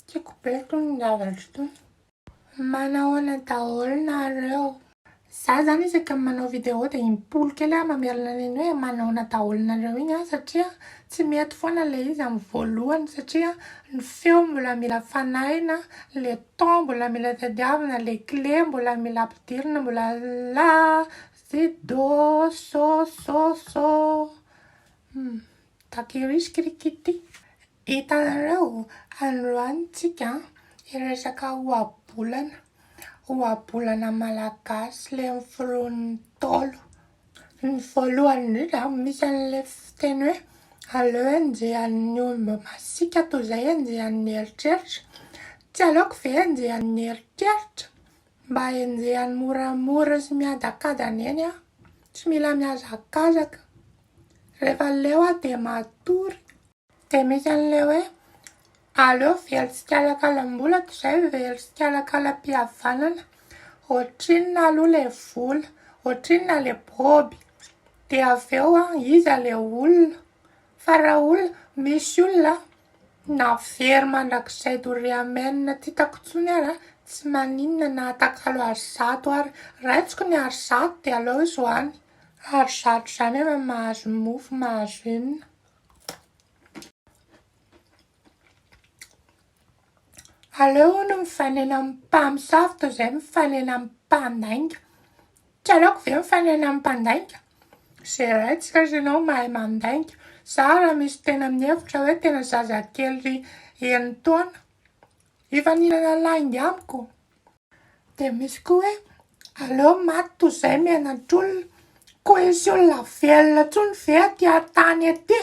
Tiako be itony zavatra itony. Manao ahoana daholo nareo. Za zany isaka manao vidéo de impolo kely aho mamerina an'iny hoe manao ahoana daholo nareo iny an satria tsy mety foana ilay izy amin'ny voalohany satria ny feo mbola mila fanahina, ilay temps mbola mila tadiavina, ilay kle mbola mila ampidirina, mbola la, si, do, so, so, so. Papyrus cricketi. Hitanareo, androany tsika hiresaka ohabolana, ohabolana malagasy le noforon'ny Ntaolo. Ny voalohany indrindra misy an'le fiteny hoe aleo enjehan'ny omby masiaka toy izay enjehan'ny eritreritra, tsy aleoko ve enjehan'ny eritreritra mba enjehany moramora sy miadakadana eny aho, tsy mila mihazakazaka. Rehefa leo aho dia matory. Dia misy an'ilay hoe, aleo very tsikalakalam-bola toy izay very tsikalakalam-pihavanana. Ohatrinona aloha ilay vola, ohatrinona ilay boby, dia avy eo iza ilay olona? Fa raha olona, misy olona na very mandrakizay doria amen tsy hitako intsony ary tsy maninona na atakalo ary zato ary. Raisiko ny ary zato dia aleo izy ho any. Ary zatra izany ianao mahazo ny mofo mahazo inona? Aleo hono mifanena amin'ny mpamosavy toy izay mifanena amin'ny mpandainga. Tsy aleoko ve mifanena amin'ny mpandainga? Zeraintsika ry ianao mahay mandainga. Za raha misy tena mihevitra hoe tena zazakely enin-taona, hifaninana lainga amiko. Dia misy koa hoe aleo maty toy izay miaina an-trolona. Koa hisy olona velona intsony ve aty an-tany aty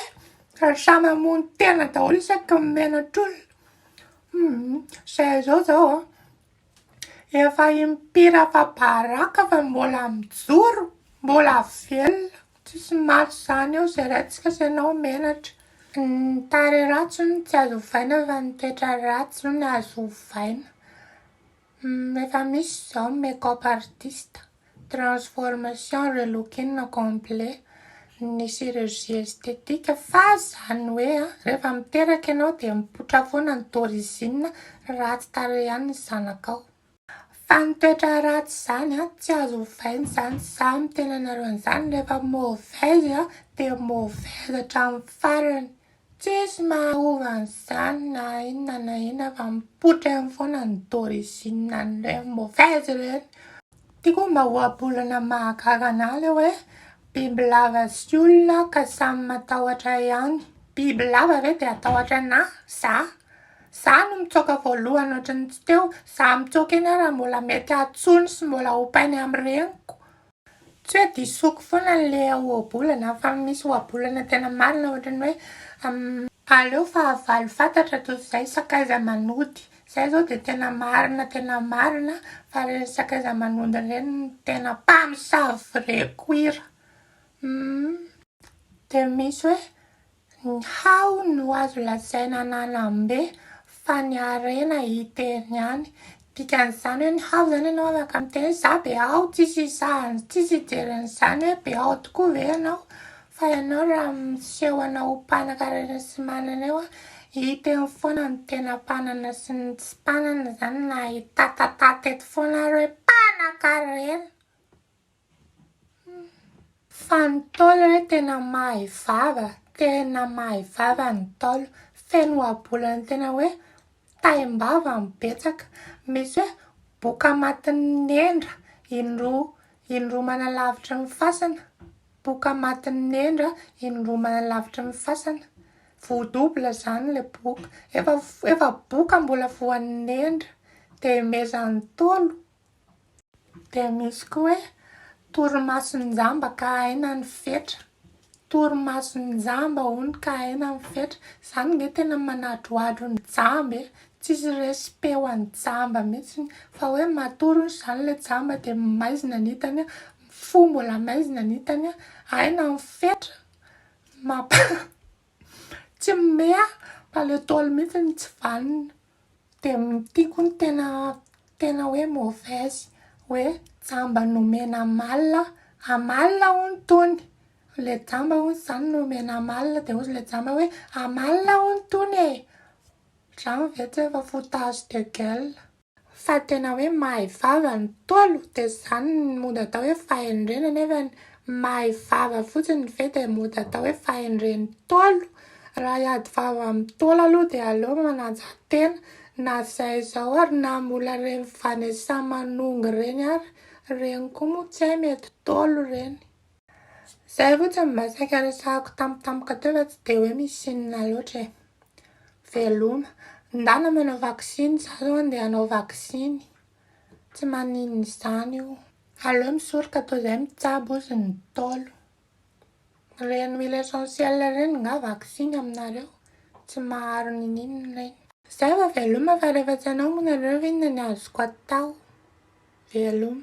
raha samy hamono tena daholo isaky ny miaina an-trolona? Humm, izay izao izao an! Efa im-pira fa baraka fa mbola mijoro, mbola velona. Tsisy maty zany eo zay ratsy fa senao menatra. Ny tarehy ratsy hono tsy azo ovaina fa ny toetra ratsy hono azo ovaina. Efa misy izao ny make up artist, transformation, relooking complet, ny chirurgie esthétique fa zany hoe rehefa miteraka ianao dia mipoitra foana ny d'origine ratsy tarehy ihany ny zanakao. Fa ny toetra ratsy izany tsy azo ovaina izany, za miteny anareo an'izany rehefa mauvaise dia mauvaise hatramin'ny farany, tsisy maha ova an'izany na inona na inona fa mipoitra eny foana ny d'origine an'ireny mauvaise ireny. Ty koa mba ohabolana mahagaga anah le hoe bibilava sy olona ka samy matahotra ihany, bibilava ve dia atahotra anah, za? Za no mitsoaka voalohany ohatry ny tsy teo, za mitsoaka eny ary mbola mety atsoiny sy mbola ompainy amin'ny reniko. Tsy hoe disoiko foana le ohabolana fa misy ohabolana tena marina ohatry ny hoe aleo fahavalo fantatra toy izay sakaiza manody. Zay zao dia tena marina tena marina fa reny sakaiza manody reny no tena mpamosavy vrai cuir. Humm. Dia misy hoe Ny hao no azo lazaina nanambe fa ny harena hiterny ihany. Dikan'izany hoe ny hao izany ianao afaka miteny hoe za be hao tsisy hisahany tsisy hijery an'izany hoe be hao tokoa ve ianao fa ianao raha miseho anao ho mpanankarena sy manana eo hita eo foana ny tena mpanana sy ny tsy mpanana izany na hitatatata eto foana ary hoe mpanankarena. Fa ny ntaolo re tena mahay vava, tena mahay vava ny ntaolo, feno ohabolana tena hoe taim-bava no betsaka, misy hoe boka matin'ny nendra, indroa, indroa manalavitry ny fasana, boka matin'ny nendra, indroa manalavitry ny fasana, voa double izany ilay boka, efa, efa boka mbola voan'ny nendra, dia mezan'ny ntaolo. Dia misy koa hoe, torimason-jamba ka aina ny fetra. Torimason-jamba hono ka aina ny fetra. Izany ange tena manadrohadro ny jamba e! Tsisy respect ho an'ny jamba mihitsy. Fa hoe matory hono izany ilay jamba dia maizina ny hitany, fo mbola maizina ny hitany, aina ny fetra. Mampa tsy mimehy aho fa ilay daholo mihitsy no tsy vanona. Dia tiako ny tena tena hoe mauvaise hoe jamba nomena amalona amalona hono tony ilay jamba hono izany nomena amalona dia hozy ilay jamba hoe amalona hono tony e! Ohatran'ny ve tsy efa foutage de gueule. Fa tena hoe mahay vava ny ntaolo dia izany no mody atao hoe fahendrena nefany mahay vava fotsiny ve dia mody atao hoe fahendren'ny ntaolo? Raha hiady vava amin'ny Ntaolo aloha dia aleo manaja tena na izay izao ary na mbola reny Vanessa Manongy ireny ary ireny koa moa tsy hay mety Ntaolo ireny. Izay fotsiny mba saika resahako tampotampoka teo fa tsy dia hoe misy inona loatra e. Veloma. Ndana manao vaksiny, za zao andeha hanao vaksiny. Tsy maninona izany io. Aleo misoroka toa izay mitsabo ozy ny Ntaolo. Ireny huile essentielle ireny nga vaksiny aminareo? Tsy maharo niniana ireny. Zay vao veloma fa rehefa tsy anao moa nareo ve inona ny azoko atao? Veloma.